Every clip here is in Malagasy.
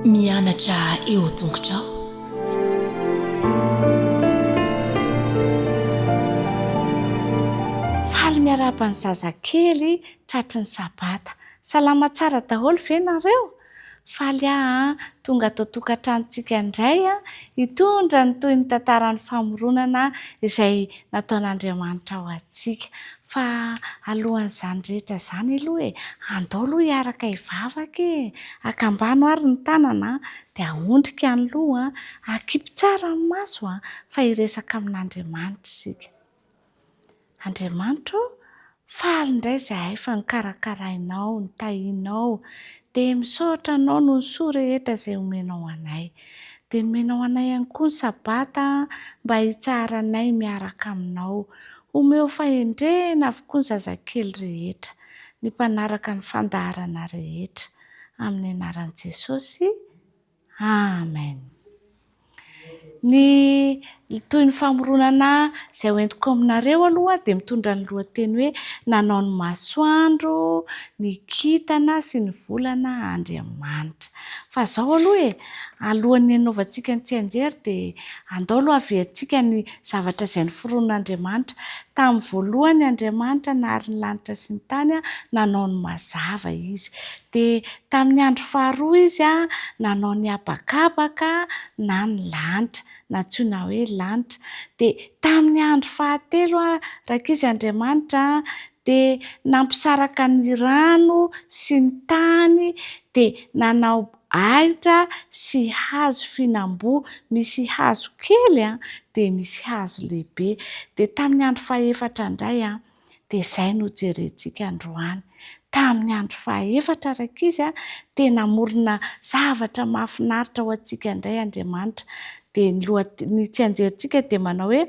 Mianatra eo tongotrao. Faly miarahaba ny zazakely tratry ny sabata. Salama tsara daholo ve nareo? Faly aho an! Tonga ato an-tokantranontsika indray an! Hitondra ny tohin'ny tantaran'ny famoronana izay nataon'Andriamanitra ho antsika. Fa alohan'izany rehetra izany aloha e, andao aloha hiaraka hivavaka e! Akambano ary ny tanana an! Dia aondrika ny loha an! Akipy tsara ny maso an! Fa hiresaka amin'Andriamanitra isika. Andriamanitra ô, faly indray izahay fa nokarakarainao, notahianao, dia misaotra Anao noho ny soa rehetra izay omenao anay. Dia nomenao anay ihany koa ny Sabata mba hitsaharanay miaraka Aminao. Omeo fahendrena avokoa ny zazakely rehetra, ny mpanaraka ny fandaharana rehetra. Amin'ny anaran'i Jesosy. Amen. Ny toy ny famoronana izay ho entiko aminareo aloha dia mitondra ny lohateny hoe nanao ny masoandro, ny kintana sy ny volana Andriamanitra. Fa izao aloha e, alohan'ny hanaovantsika ny tsianjery dia andao aloha haviantsika ny zavatra izay noforonon'Andriamanitra. Tamin'ny voalohany Andriamanitra nahary ny lanitra sy ny tany, nanao ny mazava Izy. Dia tamin'ny andro faharoa izy nanao ny habakabaka na ny lanitra, nantsoina hoe lanitra. Dia tamin'ny andro fahatelo rankizy Andriamanitra dia nampisaraka ny rano sy ny tany dia nanao ahitra sy hazo fihinam-boa, misy hazo kely dia misy hazo lehibe. Dia tamin'ny andro fahefatra indray. Dia izay no jerentsika androany. Tamin'ny andro fahaefatra rankizy a, dia namorona zavatra mahafinaritra ho antsika indray Andriamanitra. Dia ny lohat ny tsianjerintsika dia manao hoe,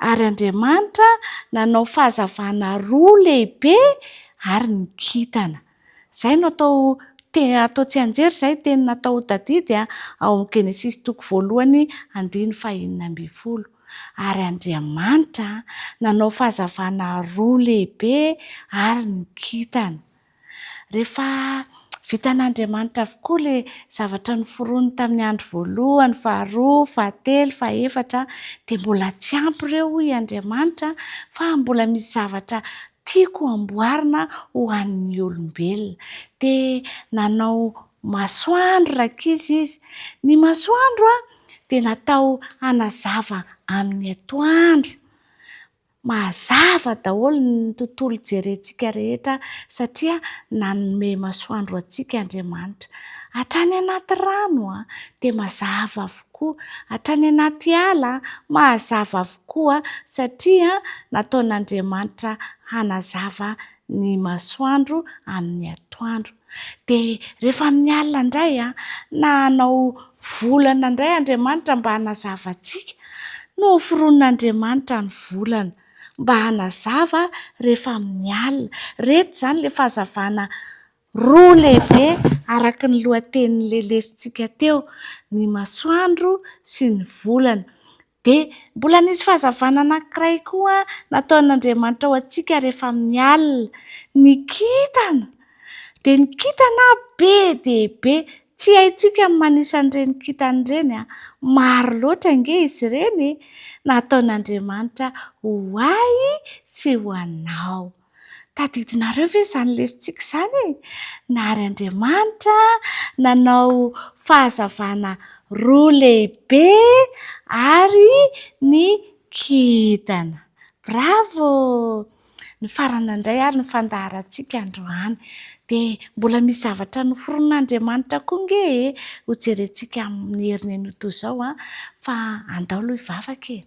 Ary Andriamanitra nanao fahazavana roa lehibe ary ny kintana. Izay no atao te atao tsianjery izay teny natao ho tadidy ao amin'ny Genesisy toko voalohany andininy fahenina ambin'ny folo. Ary Andriamanitra nanao fahazavana roa lehibe ary ny kintana. Rehefa vitan'Andriamanitra avokoa ilay zavatra noforoniny tamin'ny andro voalohany, faharoa, fahatelo, fahefatra, dia mbola tsy ampy ireo hoy Andriamanitra fa mbola misy zavatra Tiako amboarina ho an'ny olombelona. Dia nanao masoandro rankizy izy. Ny masoandro dia natao hanazava amin'ny atoandro. Mazava daholo ny tontolo jerentsika rehetra satria nanome masoandro antsika Andriamanitra. Hatrany anaty rano dia mazava avokoa, hatrany anaty ala mazava avokoa. Koa satria nataon'Andriamanitra hanazava ny masoandro amin'ny atoandro, dia rehefa amin'ny alina indray na hanao volana indray Andriamanitra mba hanazava antsika, noforonin'Andriamanitra ny volana mba hanazava rehefa amin'ny alina. Ireto izany ilay fahazavana. Roa lehibe, araka ny lohatenin'ny lelesontsika teo, ny masoandro sy ny volana. Dia mbola nisy fahazavana anankiray koa nataon'Andriamanitra ho antsika rehefa amin'ny alina. Ny kintana! Dia ny kintana be dia be. Tsy haintsika ny manisa an'ireny kintana ireny. Maro loatra ange izy ireny e! Nataon'Andriamanitra ho ahy sy ho anao. Tadidinareo ve izany lesintsika izany e? Nary Andriamanitra nanao fahazavana roa lehibe ary ny kintana. Bravo! Ny farany indray ary ny fandaharantsika androany. Dia mbola misy zavatra noforonin'Andriamanitra koa ange e! Hojerentsika amin'ny herin'iny ho toy izao fa andao aloha hivavaka e!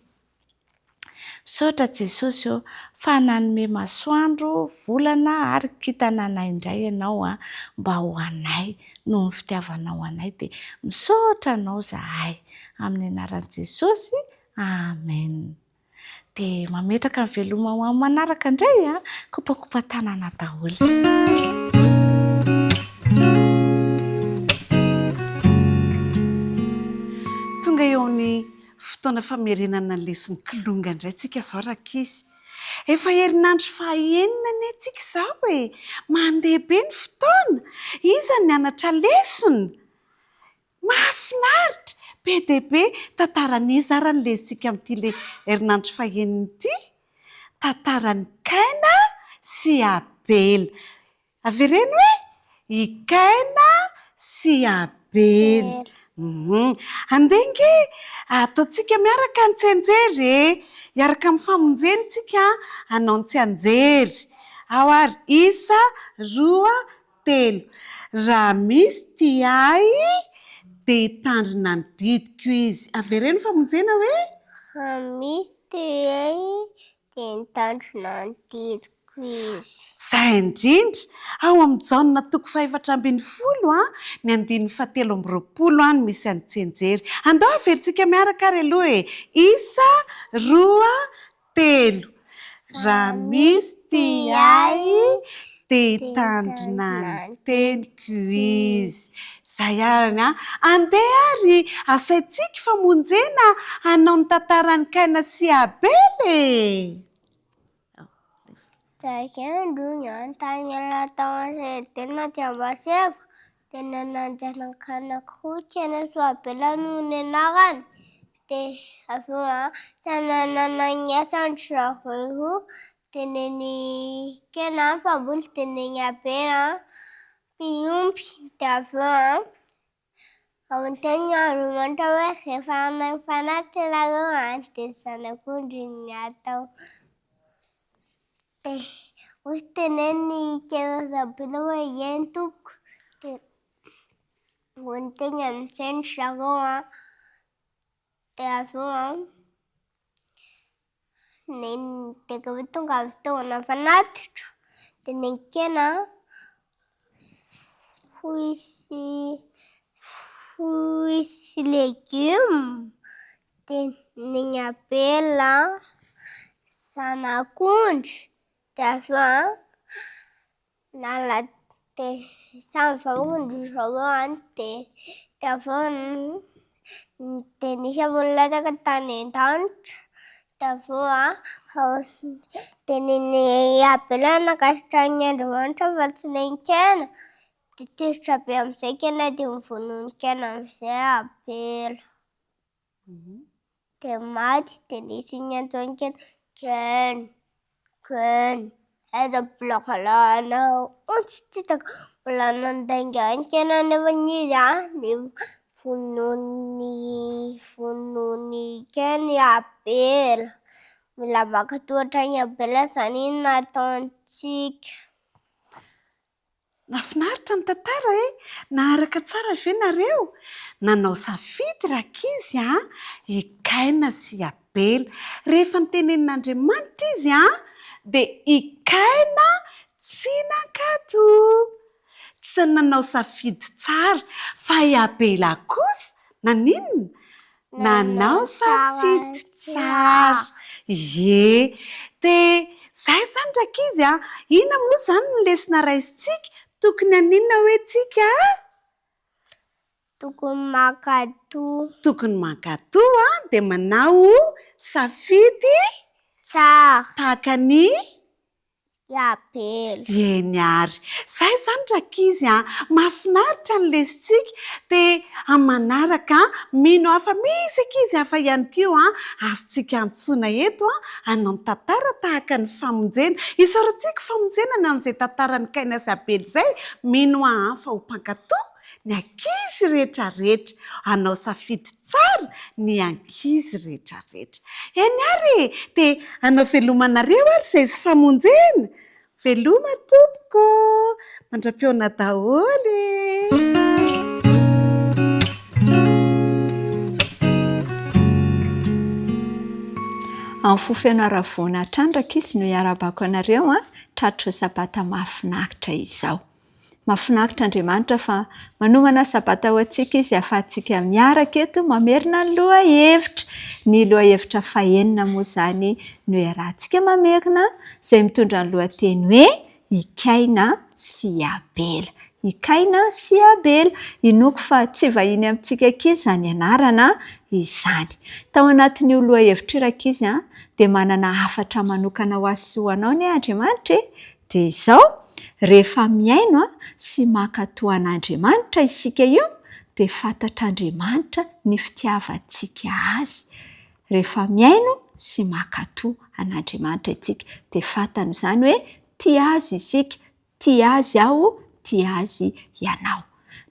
Misaotra Jesosy ô, fa nanome masoandro, volana ary kintana anay indray Ianao an, mba ho anay, noho ny fitiavanao anay dia misaotra Anao zahay. Amin'ny anaran'i Jesosy, Amen. Dia mametraka ny veloma ho amin'ny manaraka indray an, kopakopa tanana daholo. Fotoana famerenana ny leson'ny kilonga indray tsika izao rankizy. Efa herinandro fahaenina anie tsika izao e! Mandeha be ny fotoana! Iza no nianatra lesona? Mahafinaritra! Be dia be! Tantaran'iza ary ny lesontsika amin'ity herinandro fahaenina ity? Tantaran'i Kaina sy Abela. Avereno hoe i Kaina sy Abely. Andeha ange ataontsika miaraka ny tsianjery e! Hiaraka amin'ny famonjeny tsika hanao ny tsianjery. Ao ary isa, roa, telo. Raha misy tia ahy dia hitandrina ny didiko izy. Avereno famonjena hoe. Raha misy tia ahy Dia nitandrina ny didiko izy. Zay indrindra! Ao amin'ny Jaona toko fahefatra ambin'ny folo an, ny andininy fahatelo amby roapolo an no misy an'i Tsenjery. Andao haverintsika miaraka ary aloha e! Isa, roa, telo. Raha misy tia ahy, Te hitandrina ny teniko izy. Izay arany an! Andeha ary asaintsika fa monjena hanao ny tantaran'i Kaina sy Abela e! Tamin'izay andro iny an, tany aloha tao an-tsenidina dia mazava tena nanjanakana koa Kaina sy Abela noho ny anarany. Dia avy eo an, tena nanana ny asan-dry zareo roa Teneny kena an mpamboly tenegny abe an mpiompy de avy eo an aontegny andrimanitra hoe rehefa hanao fanaty ianareo an de zanak'ondry ny atao de hoy teneny kena rajoelina hoe ieny tompoko de aontegny amizay ny zareo an de avy eo an Nenina, dia rehefa tonga avy teo an'Ampanatitra dia nenkena fruits sy fruits sy légumes, dia nen'i Abela zanak'ondry, dia avy eo Nala de samy vahoaka ndry zareo any de de avy eo de nisy ambony latsaka tany an-danitra de avy eo a de ny abelan'i Ankasitranin'i Andriamanitra efa tsy nen-kena de tezitra be am'zay kena de mivononon-kena am'zay abela. Dia maty dia nisy ny antsoiny kely Ken, Ken, aiza ny filazalahanao? Hono tsy hitako, mbola nandainga an'i Ken anefany izy an, dia vonoin'i, vonoin'i Ken i Abela. Mila maka tohatra an'i Abela izany iny nataontsika. Nafinaritra ny tantara eh! Naharaka tsara ve nareo? Nanao safidy rankizy a! I Kaina sy i Abela. Rehefa nitenenin'Andriamanitra izy a! Dia i Kaina tsy nankatò. Tsy nanao safidy tsara. Fa i Abela kosa naninona? Nanao safidy tsara. Ye. Dia izay izany rankizy a! Inona moa izany no lesona raisintsika? Tokony haninona hoe tsika a? Tokony mankatò. Tokony mankatò a, dia manao safidy tsara. Tahaka ny. i Abela. Eny ary. Izay izany rankizy a! Mahafinaritra ny lesintsika. Dia amin'ny manaraka, mino aho fa misy ankizy hafa ihany koa azontsika antsoina eto hanao tantara tahaka ny famonjena. Isaorantsika ho famonjena ny an'izay tantaran'i Kaina sy Abela izay, mino aho fa ho mpankatò. Ny ankizy rehetrarehetra, hanao safidy tsara ny ankizy rehetrarehetra. Eny ary e! Te hanao veloma anareo ary izay sy famonjena. Veloma tompoko. Mandra-pihaona daholo e! Amin'ny fo feno haravoana trandraka izy no iarabako anareo an, tratry izao sabata mahafinaritra izao. Mahafinaritra Andriamanitra fa manomana sabata ho antsika Izy hahafahantsika miaraka eto mamerina ny lohahevitra. Ny lohahevitra fahenina moa izany no iarahantsika mamerina izay mitondra ny lohateny hoe I Kaina sy i Abela. I Kaina sy i Abela. Inoako fa tsy vahiny amintsika ankizy izany anarana izany. Tao anatin'io lohahevitra io rankizy a, dia manana hafatra manokana ho ahy sy ho anao anie Andriamanitra e! Dia izao, rehefa mihaino sy mankatò an'Andriamanitra isika io, dia fantatr'Andriamanitra ny fitiavantsika Azy. Rehefa mihaino sy mankatò an'Andriamanitra isika, dia fantany izany hoe tia Azy isika, tia Azy aho, tia Azy ianao.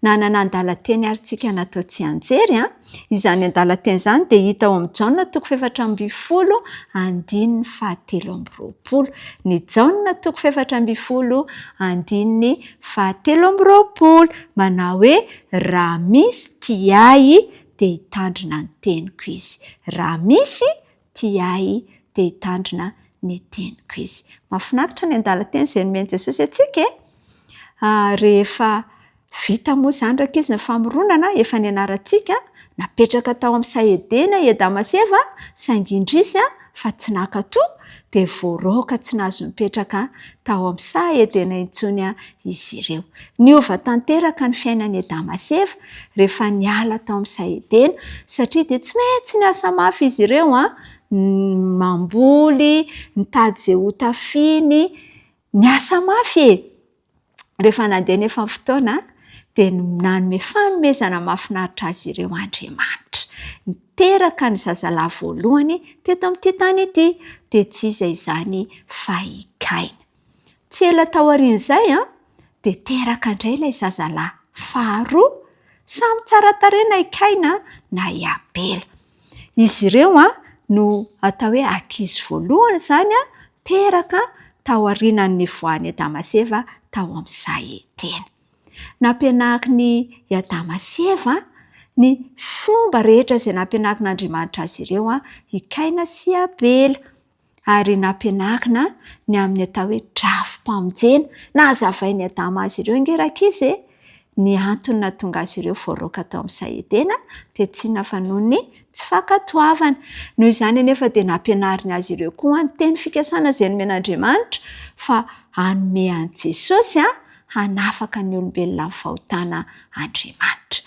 Nanana andalan-teny àry isika natao tsianjery. Izany andalan-teny izany dia hita ao amin'i Jaona toko fahefatra ambin'ny folo andininy fahatelo amby roapolo. Ny Jaona toko fahefatra ambin'ny folo andininy fahatelo amby roapolo manao hoe, Raha misy tia ahy, dia hitandrina ny teniko izy. Raha misy Tia ahy dia hitandrina ny teniko izy. Mahafinaritra ny andalan-teny izay nomen'i Jesosy antsika e! Rehefa vita moa izany raky izy ny famoronana, efa nianarantsika, napetraka tao amin'ny saha Edena i Adama sy Eva, saingy indrisy fa tsy naka toa dia voaraoka tsy nahazo nipetraka tao amin'ny saha Edena intsony izy ireo. Niova tanteraka ny fiainan'i Adama sy Eva rehefa niala tao amin'i Saedena, satria dia tsy maintsy niasa mafy izy ireo an, mamboly, nitady izay ho tafiany, niasa mafy e! Rehefa nandeha anefa ny fotoana dia nanome fanomezana mahafinaritra azy ireo Andriamanitra. Niteraka ny zazalahy voalohany teto amin'ity tany ity, dia tsy iza izany fa i Kaina. Tsy ela taorian'izay dia teraka indray ilay zazalahy faharoa, samy tsara tarehy na i Kaina na i Abela. Izy ireo no atao hoe ankizy voalohany izany teraka taorianan'ny nivoahan'i Adama sy Eva tao amin'ny saha Edena. Nampianarin'i Adama sy Eva ny fomba rehetra izay nampianarin'Andriamanitra azy ireo i Kaina sy Abela. ary nampianarina ny amin'ny atao hoe drafi-pamonjena. Nahazavain'i Adama azy ireo ange rankizy e! ny antony nahatonga azy ireo voaroaka tao amin'ny saha Edena dia tsy inona fa noho ny tsy fankatoavana. Noho izany anefa dia nampianariny azy ireo koa ny teny fikasana izay nomen'Andriamanitra fa hanome an'i Jesosy hanafaka ny olombelona amin'ny fahotana Andriamanitra.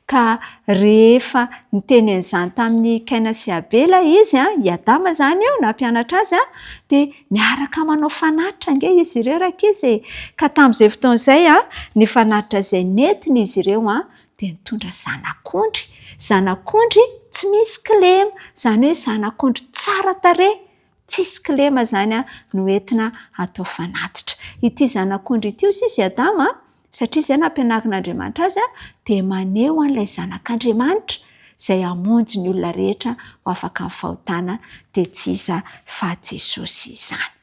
Ka rehefa niteny an'izany tamin'i Kaina sy Abela izy, i Adama izany io nampianatra azy, dia miaraka manao fanatitra ange izy ireo rankizy e! Ka tamin'izay fotoana izay, ny fanatitra izay nentin'izy ireo dia nitondra zanak'ondry, zanak'ondry tsy misy kilema, izany hoe zanak'ondry tsara tarehy. Tsisy kilema izany no entina atao fanatitra. Ity zanak'ondry ity, hoy sisa i Adama, satria izay no ampianarin'Andriamanitra azy, dia maneho an'ilay Zanak'Andriamanitra izay hamonjy ny olona rehetra ho afaka amin'ny fahotana, dia tsy iza fa Jesosy izany.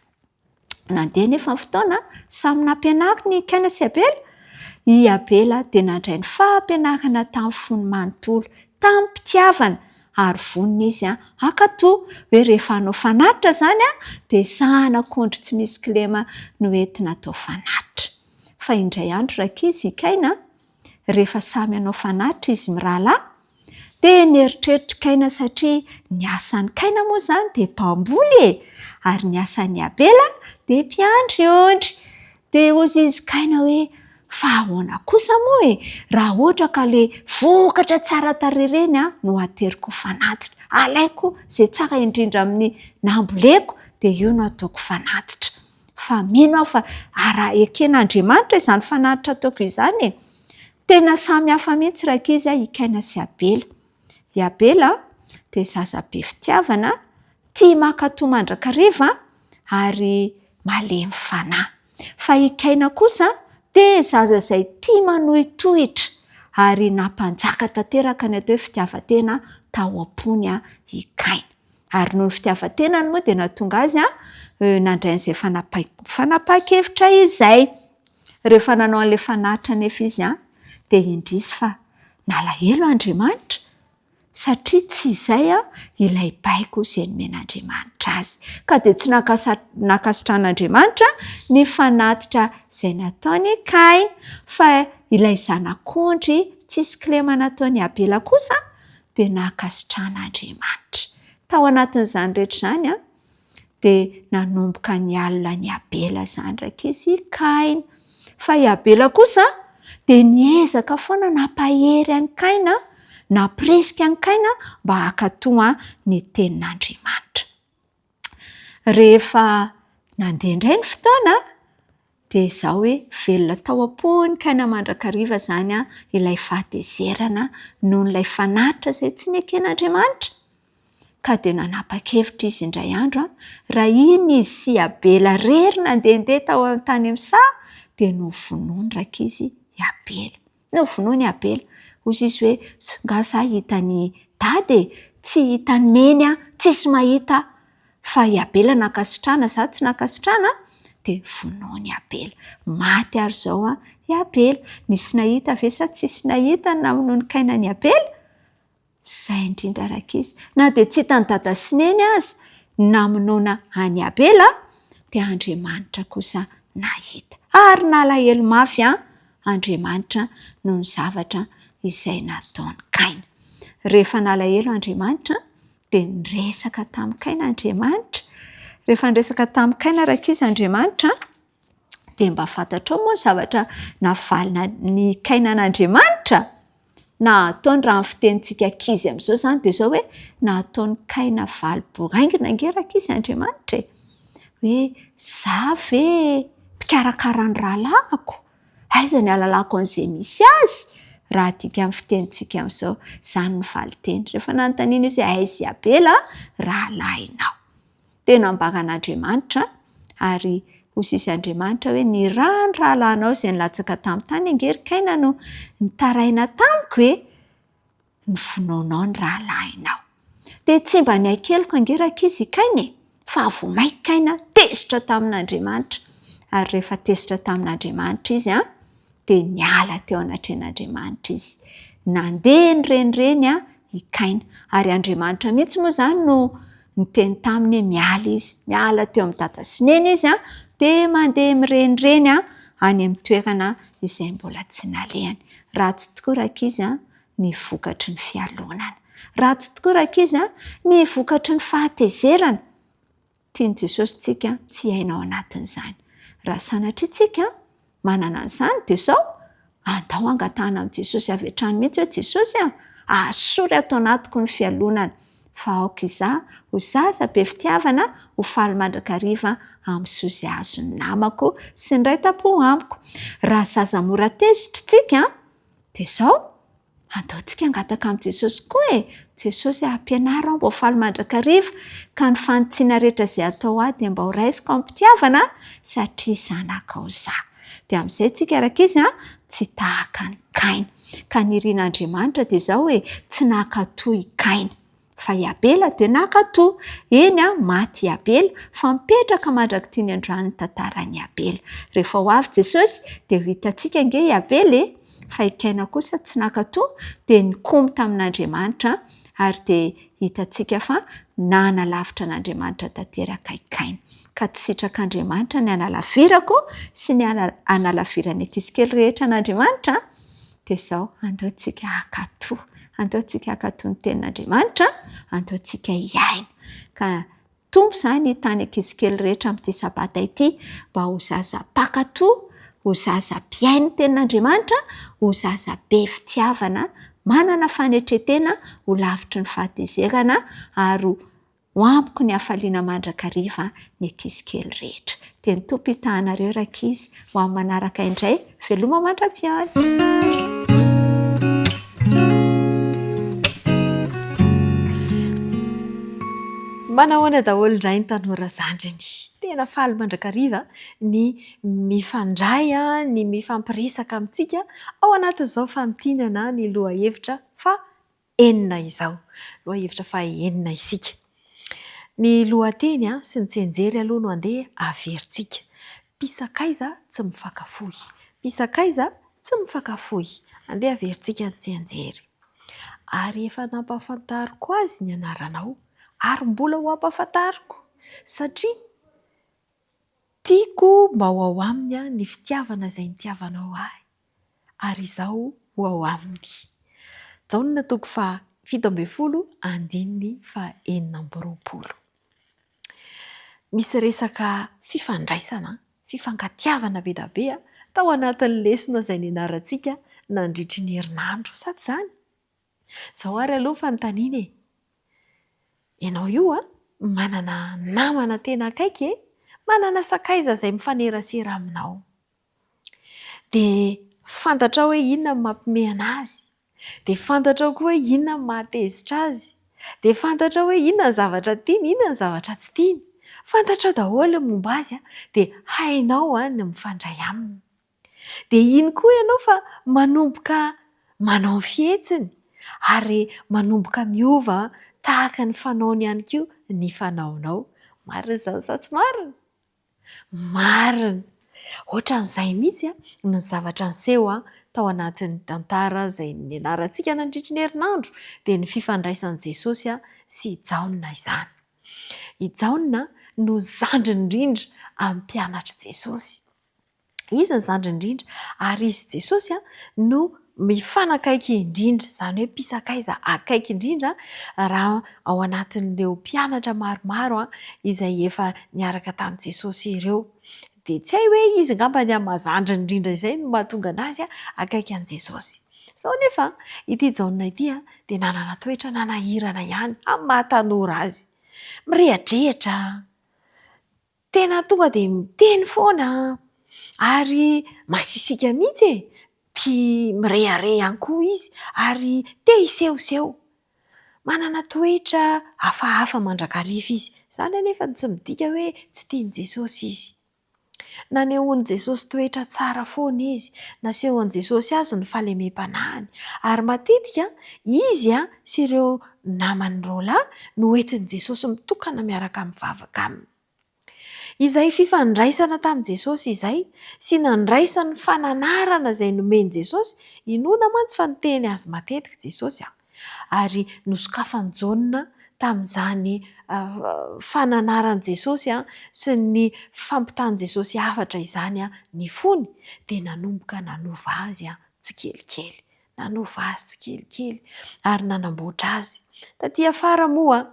Nandeha anefa ny fotoana, samy nampianaro ny Kaina sy Abela. I Abela dia nandray ny fampianarana tamin'ny fony manontolo, tamim-pitiavana, ary vonona izy hankato hoe rehefa hanao fanatitra izany, dia zanak'ondry tsy misy kilema no entina atao fanatitra. Fa indray andro, rankizy, i Kaina, rehefa samy hanao fanatitra izy mirahalahy? Dia nieritreritr'i Kaina satria ny asan'i Kaina moa izany dia mpamboly e! Ary ny asan'i Abela dia mpiandry ondry. Dia hoy izy Kaina hoe, fa ahoana kosa moa e, raha ohatra ka ilay vokatra tsara tarehy ireny no hateriko ho fanatitra. Alaiko izay tsara indrindra amin'ny namboleko, dia io no hataoko fanatitra. Fa mino aho fa araha eken'Andriamanitra izany fanatitra ataoko izany e! Tena samy hafa mihitsy rankizy a i Kaina sy Abela. I Abela dia zaza be fitiavana, tia mankatò mandrakariva ary malemy fanahy. Fa i Kaina kosa dia zaza izay tia manohitohitra ary nampanjaka tanteraka ny atao hoe fitiavan-tena tao am-pony i Kaina. Ary noho ny fitiavan-tenany moa dia nahatonga azy nandray an'izay fanapahan-kevitra izay. Rehefa nanao an'ilay fanatitra anefa izy dia indrisy fa nalahelo Andriamanitra satria tsy izay ilay baiko izay nomen'Andriamanitra azy. Ka dia tsy nankasitrahan'Andriamanitra ny fanatitra izay nataon'i Kaina. Fa ilay zanak'ondry tsisy kilema nataon'i Abela kosa dia nankasitrahana Andriamanitra. Tao anatin'izany rehetra izany an, dia nanomboka nialona an'i Abela izany raikes i Kaina. Fa i Abela kosa dia niezaka foana nampahery an'i Kaina, nampirisika an'i Kaina mba hankatò ny tenin'Andriamanitra. Rehefa nandeha indray ny fotoana dia izaho hoe velona tao am-pony kay na mandrakariva izany ilay fahatezerana noho ilay fanatitra izay tsy neken'Andriamanitra. Ka dia nanapa-kevitra izy indray andro raha iny izy sy i Abela irery nandehandeha tao amin'ny tany amin'ny saha dia novonoin'ny raikizy i Abela. Novonoin'i Abela. Hoy Zisy hoe, Nga za hita an'i Dada e? Tsy hita an'i Neny aho, tsisy mahita aho. Fa i Abela nankasitrana, za tsy nankasitrana an! Dia vonoin'i Abela. Maty àry izao an, i Abela. Nisy nahita ve sa tsisy nahita ny namonoin'i Kaina an'i Abela? Izay indrindra rankizy, na dia tsy hitan'i Dada sy Neny aza ny namonoana an'i Abela dia Andriamanitra kosa nahita. Ary nalahelo mafy an! Andriamanitra noho ny zavatra izay nataon'i Kaina. Rehefa nalahelo Andriamanitra dia niresaka tamin'i Kaina Andriamanitra. Rehefa niresaka tamin'i Kaina rankizy Andriamanitra Dia mba fantatrao moa ny zavatra navalina ny kainan'Andriamanitra? Na ataony raha ny fitenintsika ankizy amin'izao izany dia izao hoe, na ataony kaina valy boraingina ange rankizy Andriamanitra e! Hoe za ve mpikarakara ny rahalahiko? Aiza ny ahalalako an'izay misy azy? Raha adika amin'ny fitenintsika amin'izao, izany ny valinteny. Rehefa nanontaniana izy hoe aiza i Abela rahalahinao? Tena ambaran'Andriamanitra ary hosisy Andriamanitra hoe ny ra ny rahalahinao izay nilatsaka tamin'ny tany ange ry Kaina no nitaraina tamiko e! ny finoanao ny rahalahinao. Dia tsy mba nihay keloka ange rankizy i Kaina e! Fa vao mainka Kaina tezitra tamin'Andriamanitra. Ary rehefa tezitra tamin'Andriamanitra izy an, dia niala teo anatrehan'Andriamanitra izy. Nandeha ny renireny an, i Kaina. Ary Andriamanitra mihitsy moa izany no niteny taminy hoe miala izy. Miala teo amin'i dada sy neny izy, dia mandeha mirenireny any amin'ny toerana izay mbola tsy nalehany. Ratsy tokoa rankizy ny vokatry ny fialonana. Ratsy tokoa rankizy ny vokatry ny fahatezerana. Tian'i Jesosy isika tsy hiaina ao anatin'izany. Raha sanatria isika manana an'izany, dia izao, andao hangatahana amin'i Jesosy avy hatrany mihitsy hoe, Jesosy a, ahasory ato anatiko ny fialonana, fa aoka izaho ho zaza be fitiavana, ho faly mandrakariva amin'ny soa izay azon'ny namako sy ny Ray tam-po amiko. Raha zaza mora tezitra isika, dia izao, Andeontsika hangataka amin'i Jesosy koa e! Jesosy a, ampianaro aho mba ho faly mandrakariva, ka ny fanitsiana rehetra izay atao ahy dia mba ho raisiko amim-pitiavana, satria zanakao izaho. Dia amin'izay tsika rak' izy a, tsy tahaka an'i Kaina. Ka ny irin'Andriamanitra dia izao e, tsy naka toa i Kaina. Fa i Abela dia naka toa, eny a, maty i Abela, fa mipetraka mandrak'ity ny androany ny tantaran'i Abela. Rehefa ho avy Jesosy dia ho hitantsika ange i Abela e! Fa i Kaina kosa tsy naka toa, dia nikomy tamin'Andriamanitra, ary dia hitantsika fa nanalavitra an'Andriamanitra tanteraka i Kaina. Ka tsy sitrak'Andriamanitra ny hanalavirako sy ny hanalaviran'ny ankizy kely rehetra an'Andriamanitra? Dia izao, andeontsika hankatò. Andeontsika hankatò ny Tenin'Andriamanitra, andeontsika hihaino. Ka Tompo izany hitany ankizy kely rehetra amin'ity Sabata ity, mba ho zaza mpankatò, ho zaza mpihaino ny Tenin'Andriamanitra, ho zaza be fitiavana, manana fanetren-tena, ho lavitry ny fahatezerana, ary ho Ho amiko ny hafaliana mandrakariva ny ankizy kely rehetra. Dia ny Tompo hitahanareo rankizy ho amin'ny manaraka indray. Veloma mandra-pihaona! Manahoana daholo indray ny tanora zandriny? Tena faly mandrakariva ny mifandray, ny mifampiresaka amintsika ao anatin'izao famintinana ny lohahevitra fa. enina izao. Lohahevitra faha enina isika. Ny lohateny sy ny tsenjery aloha no andeha averintsika. Mpisakaiza tsy mifankafoy. Mpisakaiza tsy mifankafoy. Andeha averintsika ny tsenjery. Ary efa nampahafantariko azy ny anaranao ary mbola ho ampahafantariko satria tiako mba ho ao aminy ny fitiavana izay nitiavanao ahy. ary izaho ho ao aminy. Jaona toko faha fito ambin'ny folo andininy faha enina amby roapolo. Misy resaka fifandraisana, fifankatiavana be dia be tao anatin'ny lesona izay nianarantsika nandritry ny herinandro, sa tsy izany? Izao ary aloha ny fanontaniana e! Ianao io manana namana tena akaiky e? Manana sakaiza izay mifanerasera aminao? dia fantatrao hoe inona no mampiomehy an'azy, dia fantatrao koa hoe inona no mahatezitra azy, dia fantatrao hoe inona ny zavatra tiany, inona ny zavatra tsy tiany. Fantatrao daholo ny momba azy dia hainao ny mifandray aminy. Dia iny koa ianao fa manomboka manao ny fihetsiny ary manomboka miova tahaka ny fanaony ihany koa ny fanaonao. Marina izany sa tsy marina? Marina! Ohatran'izay mihitsy ny zavatra niseho tao anatin'ny tantara izay nianarantsika nandritra ny herinandro, dia ny fifandraisan'i Jesosy sy i Jaona izany. I Jaona no zandriny indrindra amin'ny mpianatr'i Jesosy. Izy ny zandriny indrindra ary izy Jesosy no mifanakaiky indrindra, izany hoe mpisakaiza akaiky indrindra raha ao anatin'ireo mpianatra maromaro izay efa niaraka tamin'i Jesosy ireo. Dia tsy hay hoe izy angamba ny amin'ny maha zandriny indrindra izay no mahatonga anazy akaiky an'i Jesosy. Sao anefa ity Jaona ity dia nanana toetra nanahirana ihany amin'ny maha tanora azy. Mirehadrehatra, Tena tonga dia miteny foana ary masisika mihitsy e! Tia mirehareha ihany koa izy ary te hisehoseho. Manana toetra hafahafa mandrakariva izy. Izany anefa no tsy midika hoe tsy tian'i Jesosy izy. Nanehoan'i Jesosy toetra tsara foana izy. Nasehon'i Jesosy azy ny fahalemem-panahiny. Ary matetika, izy sy ireo namany roalahy no entin'i Jesosy mitokana miaraka mivavaka aminy. Izay fifandraisana tamin'i Jesosy izay sy nandraisany ny fananarana izay nomen'i Jesosy, inoana mantsy fa niteny azy matetika Jesosy ary nosokafan'i Jaona tamin'izany fananaran'i Jesosy sy ny fampitan'i Jesosy hafatra izany ny fony dia nanomboka nanova azy tsikelikely, nanova azy tsikelikely ary nanamboatra azy. Taty afara moa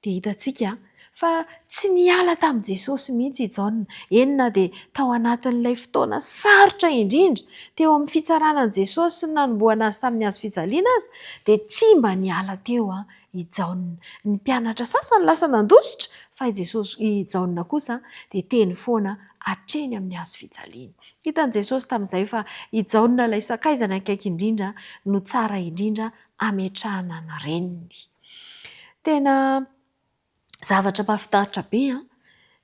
Dia hitantsika fa tsy niala tamin'i Jesosy mihitsy i Jaona, eny na dia tao anatin'ilay fotoana sarotra indrindra teo amin'ny fitsarana an'i Jesosy sy ny nanombohana azy tamin'ny hazo fijaliana aza, dia tsy mba niala teo i Jaona. Ny mpianatra sasany lasa nandositra, fa i Jesosy, i Jaona kosa dia teny foana hatreny amin'ny hazo fijaliana. Hitan'i Jesosy tamin'izay fa i Jaona ilay sakaizany akaiky indrindra no tsara indrindra hametrahana ny reniny. Tena zavatra mahafinaritra be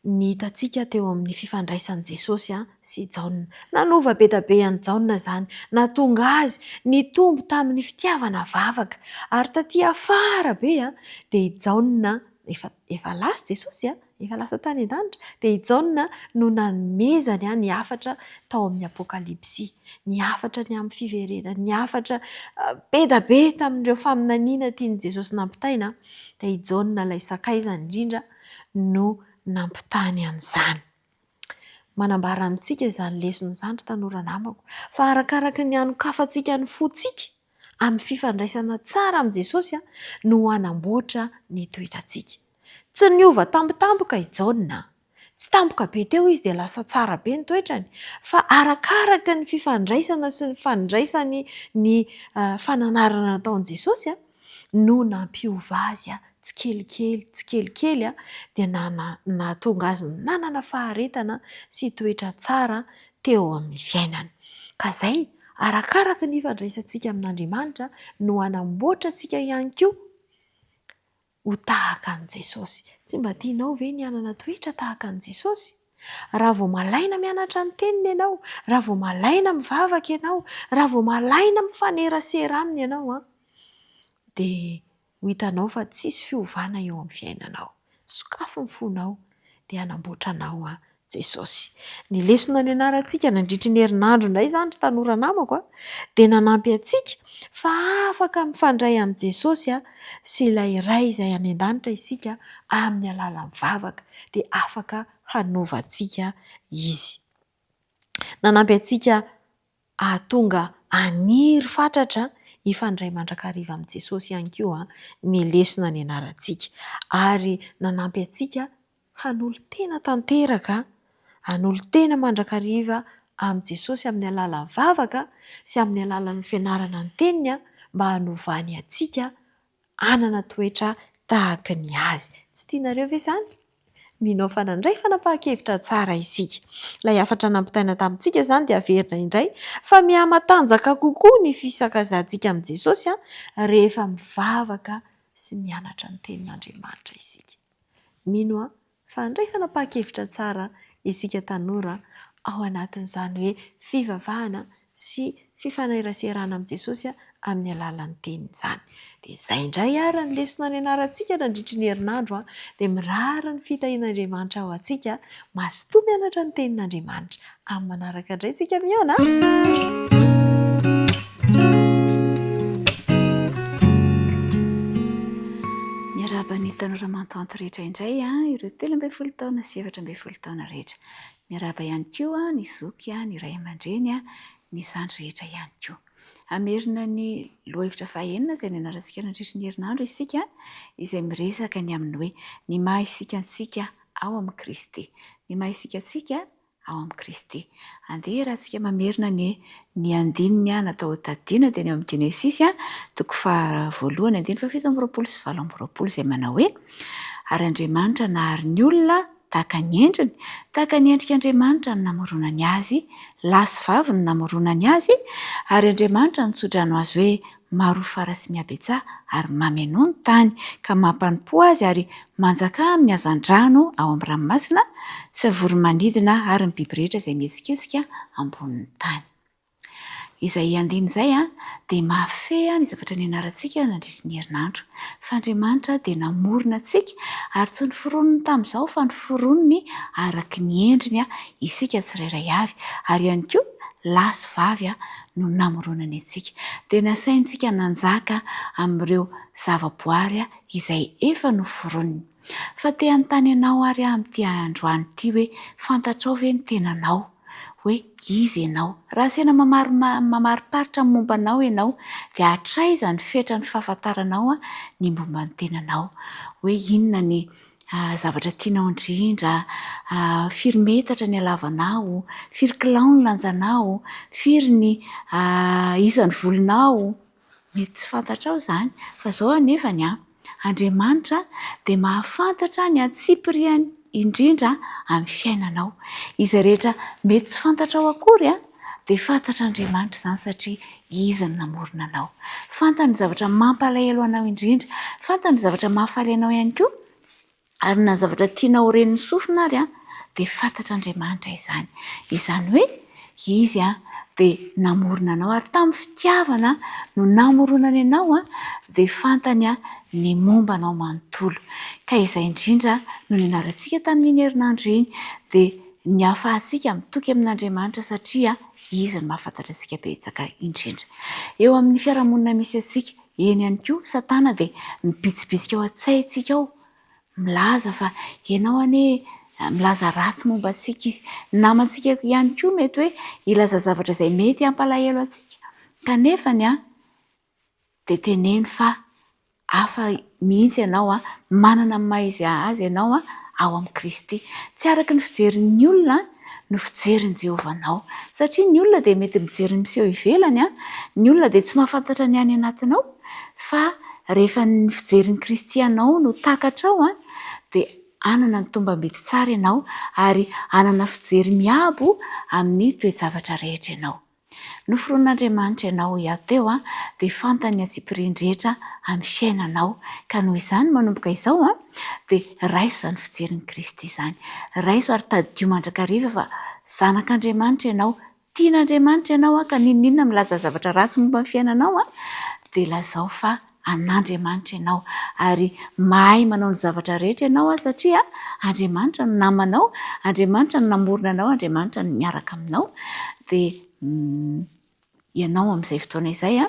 ny hitantsika teo amin'ny fifandraisan'i Jesosy sy i Jaona. Nanova be dia be an'i Jaona izany, nahatonga azy nitombo tamin'ny fitiavana vavaka. Ary tatỳ afara be dia i Jaona, efa lasa i Jesosy, efa lasa tany an-danitra, dia i Jaona no nanomezany ny hafatra tao amin'ny Apokalypsy, ny hafatra ny amin'ny fiverenany, ny hafatra be dia be tamin'ireo faminaniana tian'i Jesosy nampitaina, dia i Jaona ilay sakaizany indrindra no nampitany an'izany. Manambara amintsika izany lesona izany ry tanora namako, fa arakaraka ny hanokafantsika ny fontsika amin'ny fifandraisana tsara amin'i Jesosy no hanamboatra ny toetrantsika. Tsy niova tampotampoka i Jaona. Tsy tampoka be teo izy dia lasa tsara be ny toetrany, fa arakaraka ny fifandraisana sy ny fandraisany ny fananarana nataon'i Jesosy no nampiova azy tsikelikely tsikelikely, dia nahatonga azy nanana faharetana sy toetra tsara teo amin'ny fiainany. Ka izay, arakaraka ny ifandraisantsika amin'Andriamanitra no hanamboatra antsika ihany koa. Ho tahaka an'i Jesosy. Tsy mba tianao ve ny hanana toetra tahaka an'i Jesosy? Raha vao malaina mianatra ny Teniny ianao, raha vao malaina mivavaka ianao, raha vao malaina mifanerasera Aminy ianao, dia ho hitanao fa tsisy fiovana eo amin'ny fiainanao. Sokafy ny fonao. dia hanamboatra anao an Jesosy. Ny lesona nianarantsika nandritry ny herinandro indray izany ry tanora namako an, dia nanampy antsika fa afaka mifandray amin'i Jesosy sy ilay Ray izay any an-danitra isika amin'ny alalan'ny vavaka dia afaka hanova antsika Izy. Nanampy antsika Hahatonga haniry fatratra hifandray mandrakariva amin'i Jesosy ihany koa ny lesona nianarantsika, ary nanampy antsika hanolo-tena tanteraka, hanolo-tena mandrakariva amin'i Jesosy amin'ny alalan'ny vavaka sy amin'ny alalan'ny fianarana ny Teniny, mba hanovany antsika hanana toetra tahaka ny azy. Tsy tianareo ve izany? Mino aho fa nandray fanapahan-kevitra tsara isika. Ilay hafatra nampitaina tamintsika izany dia averina indray fa mihamatanjaka kokoa ny fisakazahantsika amin'i Jesosy rehefa mivavaka sy mianatra ny Tenin'Andriamanitra isika. Mino aho fa handray fanapahan-kevitra tsara isika tanora ao anatin'izany hoe fivavahana sy fifaneraserana amin'i Jesosy amin'ny alalan'ny teniny izany. Dia izay indray ary ny lesona nianarantsika nandritry ny herinandro, dia mirary ny fitahian'Andriamanitra ho antsika, mazotoa mianatra ny tenin'Andriamanitra. Amin'ny manaraka indray tsika mihaona Miarahaba ny tanora mantanty rehetra indray ireo telo ambin'ny folo taona sy efatra ambin'ny folo taona rehetra. Miarahaba ihany koa ny zoky, ny ray aman-dreny, ny zandry rehetra ihany koa. Hamerina ny lohahevitra fahenina izay nianarantsika nandritry ny herinandro isika izay miresaka ny amin'ny hoe ny maha isika antsika ao amin'i Kristy. Ny maha isika antsika ao amin'i Kristy. Andeha hiarahantsika mamerina anie ny andininy natao hotadidiana dia ny ao amin'ny Genesisy toko faha voalohany andininy fahafito amby roapolo sy valo amby roapolo izay manao hoe, Ary Andriamanitra nahary ny olona tahaka ny endriny, tahaka ny endrik' Andriamanitra no namoronany azy, lahy sy vavy no namoronany azy, ary Andriamanitra nitso-drano azy hoe Maro fara sy mihabetsaha ary mamenoa ny tany, ka mampanompoa azy ary manjakà amin'ny hazandrano ao amin'ny ranomasina, sy ny voro-manidina ary ny biby rehetra izay mihetsiketsika ambonin'ny tany. Izay andiany izay dia mahafehy ny zavatra nianarantsika nandritry ny herinandro, fa Andriamanitra dia namorona antsika ary tsy noforoniny tamin'izao fa noforoniny araka ny endriny isika tsirairay avy, ary ihany koa lahy sy vavy no namoronany antsika, dia nasaintsika nanjaka amin'ireo zavaboary izay efa noforoniny. Fa te hanontany anao ary aho amin'ity androany ity hoe, fantatrao ve ny tenanao? Hoe iza ianao? Raha asena mamariparitra ny momba anao ianao, dia hatraiza ny fetran'ny fahafantaranao ny momba ny tenanao? Hoe inona ny zavatra tianao indrindra, firy metatra ny halavanao, firy kilao ny lanjanao, firy ny isan'ny volonao. Mety tsy fantatrao izany fa izao anefany an, Andriamanitra dia mahafantatra ny antsipiriany indrindra amin'ny fiainanao. Izay rehetra mety tsy fantatrao akory an, Dia fantatr'Andriamanitra izany satria Izy no namorona anao. Fantany ny zavatra mampalahelo anao indrindra. Fantany ny zavatra mahafaly anao ihany koa. Ary na ny zavatra tianao ho ren'ny sofina ary dia fantatr'Andriamanitra izany. Izany hoe Izy dia namorona anao ary tamin'ny fitiavana no namoronany anao dia fantany ny momba anao manontolo. Ka izay indrindra no nianarantsika tamin'iny herinandro iny dia Ny hahafahantsika mitoky amin'Andriamanitra satria Izy no mahafantatra antsika betsaka indrindra. Eo amin'ny fiarahamonina misy antsika, eny ihany koa, Satana dia mibitsibitsika ao an-tsaintsika ao, milaza fa ianao anie, milaza ratsy momba antsika izy. Ny namantsika ihany koa mety hoe hilaza zavatra izay mety hampalahelo antsika. Kanefa ny ahy, dia teneno fa hafa mihitsy ianao, manana ny maha izy azy ianao ao amin'i Kristy. Tsy araka ny fijerin'ny olona no fijerin'i Jehovah anao. Satria ny olona dia mety mijery ny miseho ivelany, ny olona dia tsy mahafantatra ny any anatinao, fa rehefa ny fijerin'i Kristy anao no takatrao, dia hanana ny tombam-bidy tsara ianao, ary hanana fijery miabo amin'ny toe-javatra rehetra ianao. Noforonin'Andriamanitra ianao ho hiato teo dia fantany ny antsipiriany rehetra amin'ny fiainanao ka noho izany manomboka izao dia raiso izany fijerin'i Kristy izany. Raiso ary tadidio mandrakariva fa zanak'Andriamanitra ianao, tian'Andriamanitra ianao ka n'inon'inona milaza zavatra ratsy momba ny fiainanao dia lazao fa an'Andriamanitra ianao ary mahay manao ny zavatra rehetra ianao satria Andriamanitra no namanao, Andriamanitra no namorona anao, Andriamanitra no miaraka aminao dia ianao amin'izay fotoana izay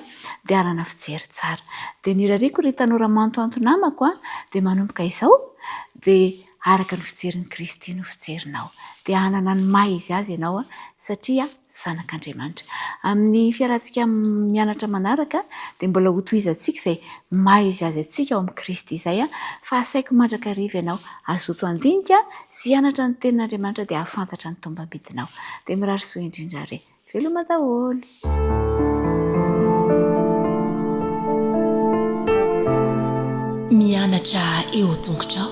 dia hanana fijery tsara. Dia ny irariako ry tanora manotanto namako dia manomboka izao dia araka ny fijerin'i Kristy no fijerinao dia hanana ny maha izy azy ianao satria Zanak'Andriamanitra. Amin'ny fialantsika mianatra manaraka dia mbola hotohizantsika izay maha izy azy antsika ao amin'i Kristy izay, fa asaiko mandrakariva ianao hazoto handinika sy hianatra ny Tenin'Andriamanitra dia hahafantatra ny tombambidinao. Dia mirary soa indrindra re. Veloma daholo. Mianatra eo tongotrao.